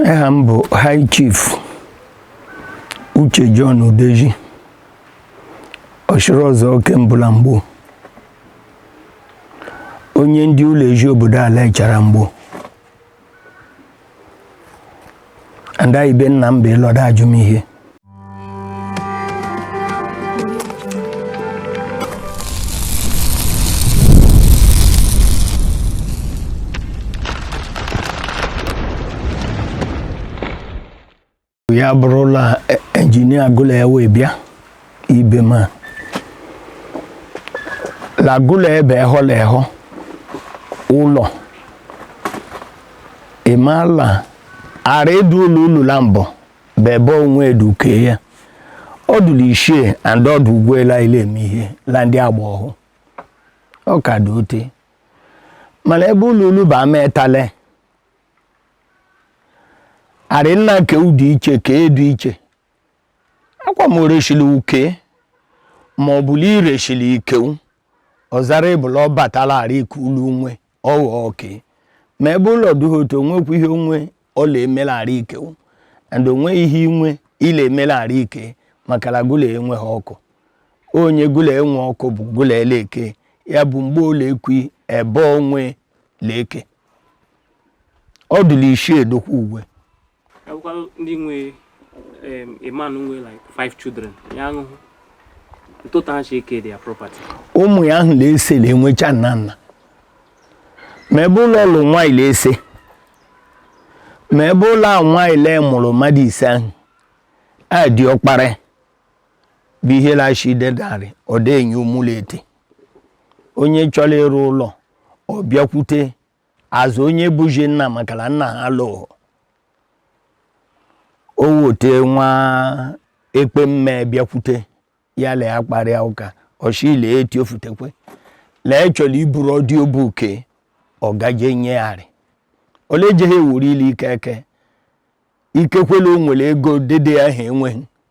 aha m bụ High Chief Uche John Udeji Ọchịrịọzụọ ke mbụ la Mgbowo onye ndị ụlọ Eziobodo Alaechara Mgbowo and ibe nna m bụ ịlọda ajụmihe ya bụrụ la e, injinia agụla ya wee bịa ibe ma lagụla ebe ehọ la ehọ ụlọ ịmala ara edu ụlọ ụlọ la mbụ bebe onwe eduke ya ọ dụ la ishi and ọ dụ ugwe la ile eme ihe la ndị agba ọhụụ ọ ka dị ote mala ebe ụlọ ulu bụ ama etale arị nna ke ụdị iche ka edu iche akwa m oreshili uke ma ọ bụ la ireshili ikewu ọzara ebula ọ batala arị ka ulu nwe ọghọ oke ma ọ bụ la ọ dụghị otu onwekwu ihe onwe ọla emelara ike and onwe ihe inwe ile emelara ike maka la gụ la enweghị ọkụ onye gụ la e nwe ọkụ bụ gụ la eleke ya bụ mgbe ụlọ ekwi ebe onwe leke ọ dụ la ishi edokwa ugwe akwụkwọ ndị nwe a man nwe like five children ya nwụhụ otu ha shi eke their property ụmụ ya ahụ la ise le enwecha nna nna ma ọ bụ la ọ lụ nwaanyị la ise ma ọ bụ la nwaanyị le mụrụ mmadụ ise ahụ diọkpara bụ ihe lashi dedarị ọ dị enye ụmụlọ ete onye chọrọ ịrụ ụlọ ọ bịakwute as onye bụzi nna maka la nna ha lụụ o wote nwa ekpe mme bịakwute ya lee akparịa ụka ọchile eti ofutekwe lee chọrọ iburu ọdị obuke ọ gaje nyegharị ole jeghị ewuru ile ike eke ikekwela o nwere ego dede ahụ enweghị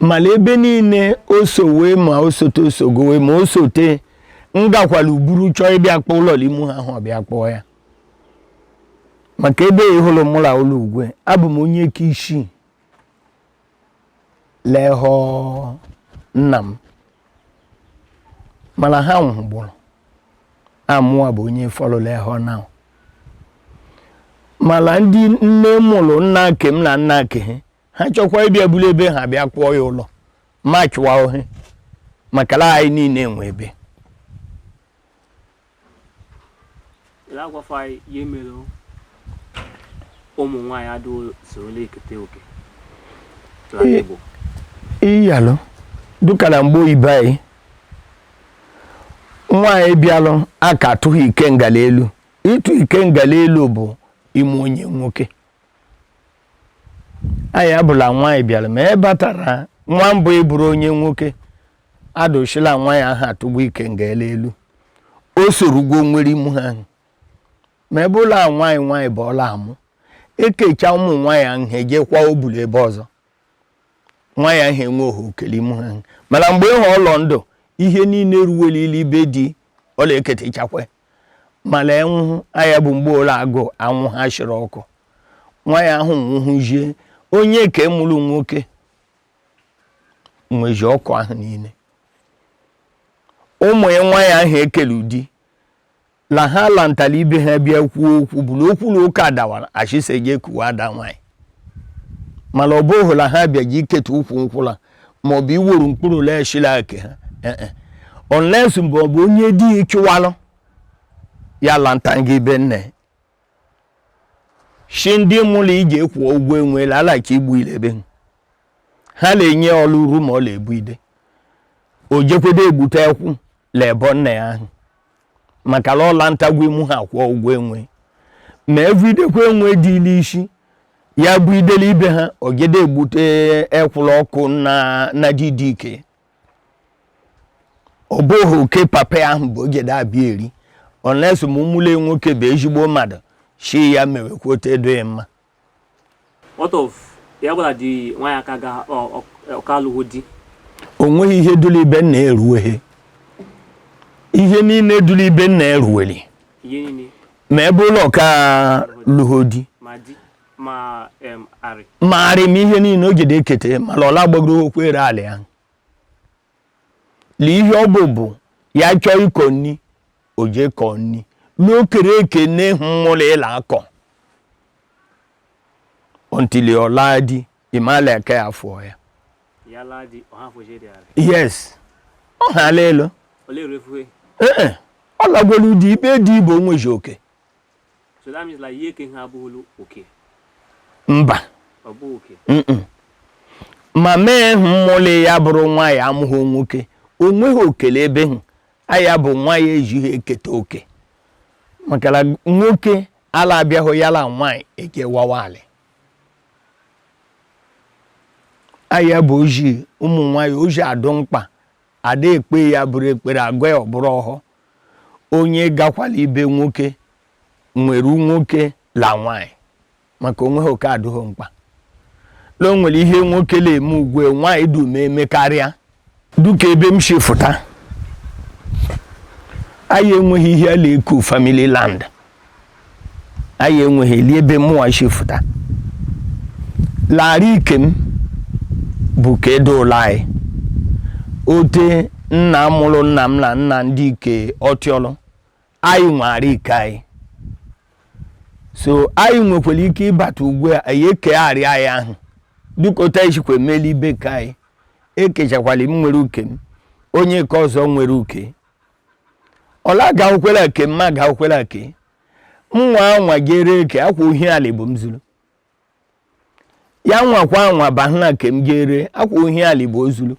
mala ebe niile o sowe ma o sote o sogowe ma o sote m gakwala uburu chọọ ịbịa kpọọ ụlọ imu ha ahụ ọ bịa kpọọ ya maka ebe ị hụlụ mụ la ụlọ ugwe abụ m onye ka ishi le ehọ nna m mala ha nwụhụgbulu amụwa bụ onye fọlọ le ehọ now mala ndị nne mụlụ nna ke m la nna ke ha ha chọkwa ịbịa buru ebe ha bịa kpụọ ya ụlọ ma chụwa ohe maka la anyị niile enwe ebe agwafa anyị ihe mere ụmụ nwaanyị adịghị sorola ekete oke n'ala Ee. Igbo iyalụ dụka la mgbe ibe anyị nwaanyị bịalụ aka atụghị ikenga la elu ịtụ ikenga la elu bụ ime onye nwoke aya bụ la nwaanyị bịara ma e batara nwa mbụ ịbụrụ onye nwoke adụ shi la nwaanyị ahụ atụgwo ikenga la elu o sorugwo nwere imu ha ahụ ma ọ bụ la nwaanyị nwaanyị bụ ọ la-amụ ekecha ụmụ nwaanyị ahụ ejekwa obu le ebe ọzọ nwaanyị ahụ enwehe oke le imu ha ahụ mala mgbe ahụ ọ lọ ndụ ihe niile ruwelile ibe di ọ la-eketechakwa mala e nwụhụ aya bụ mgbe ọ la-agụ anwụ ha shiri ọkụ nwaanyị ahụ nwụhụzie onye ke mụrụ nwoke nwezi ọkụ ahụ niile ụmụ ya nwaanyị ahụ ekele ụdị la ha lantara ibe ha bịa kwuo okwu bụ la okwu la ụka adawala achịsa eje kuwa ada nwaanyị mala ọ bụghị la ha bịaji iketa ukwu nkwụ la ma ọ bụ iwuru mkpụrụ ala e shi la ake ha eh, eh. unless mgbe ọ bụ onye di ya chụwalụ ya lanta ibe nne shi ndị mụlụ iji kwụọ ụgwọ enwe la ala ka igbu ilebe ha na-enye ọlụ uru ma ọ la-ebu ide o jekwede egbute ekwụ l'ebo nna ya ahụ maka la ọ lantagwo imu ha kwụọ ụgwọ enwe ma evidekwa enwe dị l'isi ya bụ ide le ibe ha o jede egbute ekwụ la ọkụ na na didike ọ bụghị oke papa ahụ bụ o jede abịa eri unless ma ụmụle nwoke bụ ezigbo mmadụ shi ya mewekwa otu edoghị mma What of ya bụ la ada nwaanyị aka ga ọ ka alụghị di o nweghị ihe dụrụ ibe nna eruweghị ihe niile dụrụ ibe nna eruweli ihe niile ma ọ bụ la ọ ka lụghị di ma di ma em arị ma arị ma ihe niile o jede ekete mala ọ la gbagoro okwu ere ala ya Lee ihe ọ bụ bụ ya chọọ ịkọ nni o jee kọọ nni l'okere eke nne ahụ mụlụ ya la-akọ until ọ laa di ị ma la aka ya afụọ ya yes ọ ha ala elu ọ lagwolu di ibe di bụ o nwezi oke So that means like ihe ka ihe abụghịlụ oke. Mba. Ọ bụ oke. Ma mee hụ mmụlị ya bụrụ nwaanyị amụghị nwoke, o nweghị oke le ebe hụ, aya bụ nwaanyị ejighị eketa oke. Maka la nwoke ala abịaghị ya la nwaanyị ekewawa alị. Aya bụ oji ụmụ nwaanyị oji adụ mkpa, ada ekpe ya bụrụ ekpere agọ ya ọ bụrụ ọhọ. Onye gakwala ibe nwoke nwere nwoke la nwanyị maka onweghị oke adụghị mkpa la o nwere ihe nwoke la eme ugwe nwanyị dum eme karịa duka ebe m si fụta anyị enweghị ihe a la-eku family land anyị enweghị le ebe mụwa si fụta la arị ike m bụ ka edo ụlọ anyị ote nna mụrụ nna m na nna ndị ike ọtịọlụ anyị nwe arị ike anyị so anyị nwekwara ike ịbata ugbu a anyị eke arị anyị ahụ duka otu anyị sikwa eme la ibe ke anyị ekechakwala m nwere uke m onye nke ọzọ nwere uke ọla ga-awụkwere ake mma ga-awụkwere ake nwa anwa jere eke akwa ohi alị bụ m zuru ya nwakwa anwa bahụna ke m jere akwa ohi alị bụ o zuru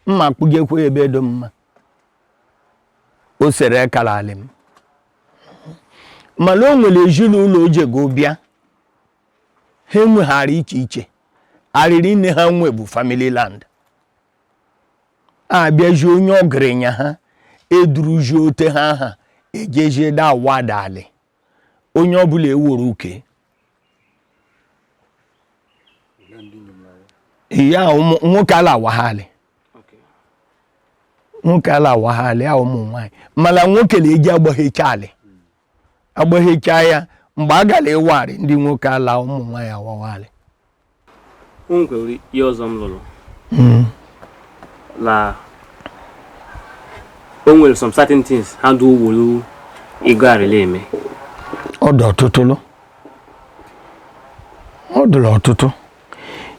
mma kpụjekwa ebe dụ mma o sere kala alị m mana o nwere ezinụlọ o jego bịa ha enweghị arị iche iche arị niile ha nwe bụ family land abịaji onye ọgaranya ha eduruji ote ha ha ejeje da wada alị onye ọbụla ewere uke ya nwoke ala awaghị alị nwoke ala awaghị alị ya ụmụ nwaanyị mana nwoke na-eji agbaghecha alị agbaghecha ya mgbe a gara ịwa arị ndị nwoke ala ụmụ nwanyị awawa alị o nwere ihe ọzọ m lụrụ la o nwere some certain things ha dị owolu ego arị la eme ọ dị ọtụtụlụ ọ dịrị ọtụtụ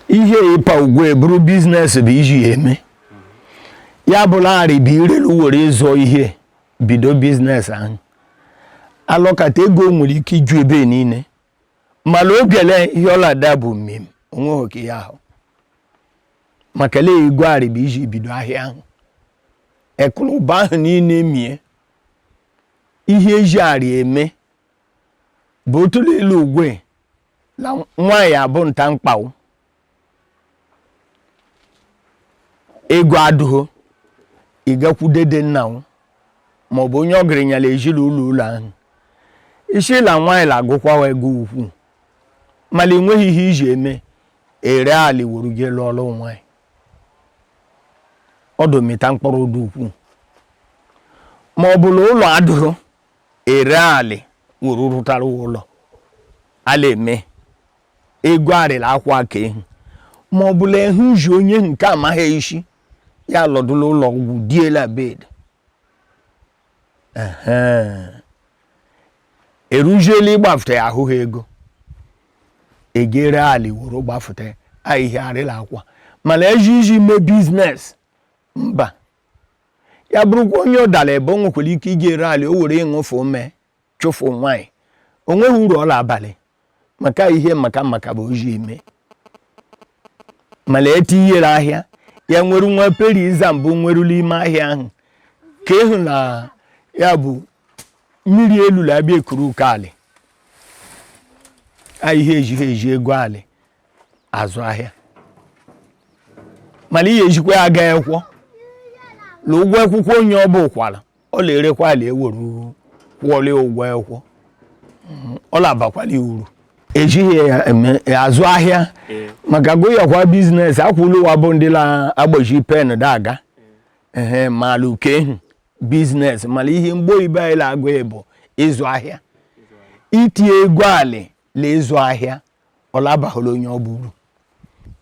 ihe ịpa ugwe bụrụ biznes bụ iji ya eme ya bụ la arị bụ irelu were ịzụ ihe bido biznes ahụ alọkata ego nwere ike iju ebe niile mana obiele ihe ọlada bụ mmemme onweghị oke ya ahụ maka la ego arị bụ iji bido ahịa ahụ ekụlụba ahụ niile mie ihe eji arị eme bụ otụlụ ilu ugwe la nwaanyị bụ nta mkpawo ego adụghị ịgakwu dede nna m ma ọ bụ onye ọgaranya la ezi la ụlọ ụlọ ahụ ị sị la nwaanyị la agụkwawa ego ukwu mana ị nweghị ihe iji eme ere alị weru je lụọrụ nwaanyị ọdụ mịta mkpụrụ dị ukwu ma ọ bụ la ụlọ adụghị ere alị weru rụtara ụlọ a la-eme ego arịla akwa aka ehi ma ọ bụ la ehu ji onye nke amaghị isi ya lọdụ la ụlọ ọgwụ die la bed eruzie la ịgbafụta ya ahụghị ego e ge-ere ali weru gbafụta ya ihe a arịla akwa mana eji iji mee business mba ya bụrụkwa onye ọ dara ebe o nwekwara ike ige ere ali o were ịṅụfe mee chụfụ nwaanyị o nweghị uru ọ la-abalị maka ihe maka maka bụ o ji eme mana etinyere ahịa ya nwere nwa peri iza mbụ nweru la ime ahịa ahụ ka ịhụ na ya bụ mmiri elu la-abịa ekuru uke alị ihe ejighị eji ego alị azụ ahịa mana ihe ejikwa ya aga ekwọ na ụgwọ akwụkwọ onye ọ bụkwala ọ la-erekwa alị eweru kwụọla ụgwọ ekwọ ọ na-abakwala uru ejighị ya azụ ahịa maka goyakwa business akwụlụ wa bụ ndị na-agbaji pen daga ehe malụ kehu business mana ihe Mgbo ibe anyị la-agụ bụ ịzụ ahịa itinye ego alị na ịzụ ahịa ọ la-abahụla onye ọ bụrụ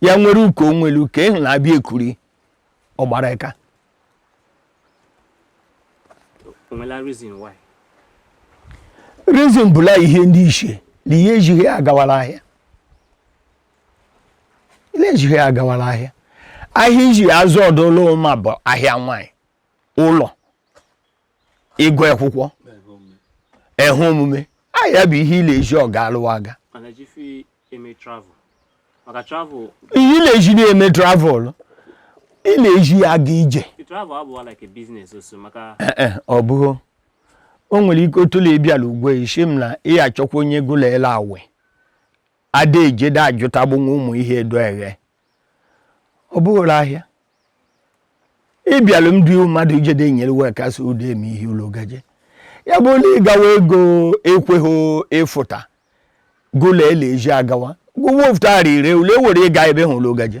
ya nwere uke nwere uke ịhụ na-abịa ekuru ọ gbara aka reason bụ la ihe ndị iche na ihe ejighị agawala ahịa ihe ejighị agawala ahịa ahịa iji azụ ọ dụlụ mma bụ ahịa nwanyị ụlọ ịgụ akwụkwọ ehe omume ahịa bụ ihe ile eji ọ ga-alụwa aga ihe ile eji na-eme travel ị na-eji ya aga ije eh, eh, ọ bụghị o nwere ike otu na-ebiala ugwe isi m na ị achọkwa onye gụla ele awe ada ejede ajụtagbunwe ụmụ ihe edo eghe ọ bụghị la ahịa ịbịalụ ndị mmadụ ije de nyere wee kasị ụdị eme ihe ụlọ gaje ya bụlụ ịgawa ego ekweghị ịfụta gụla ele eji agawa gwụwa ofụta ire ule were ịga ebe hụrụ ụlọ gaje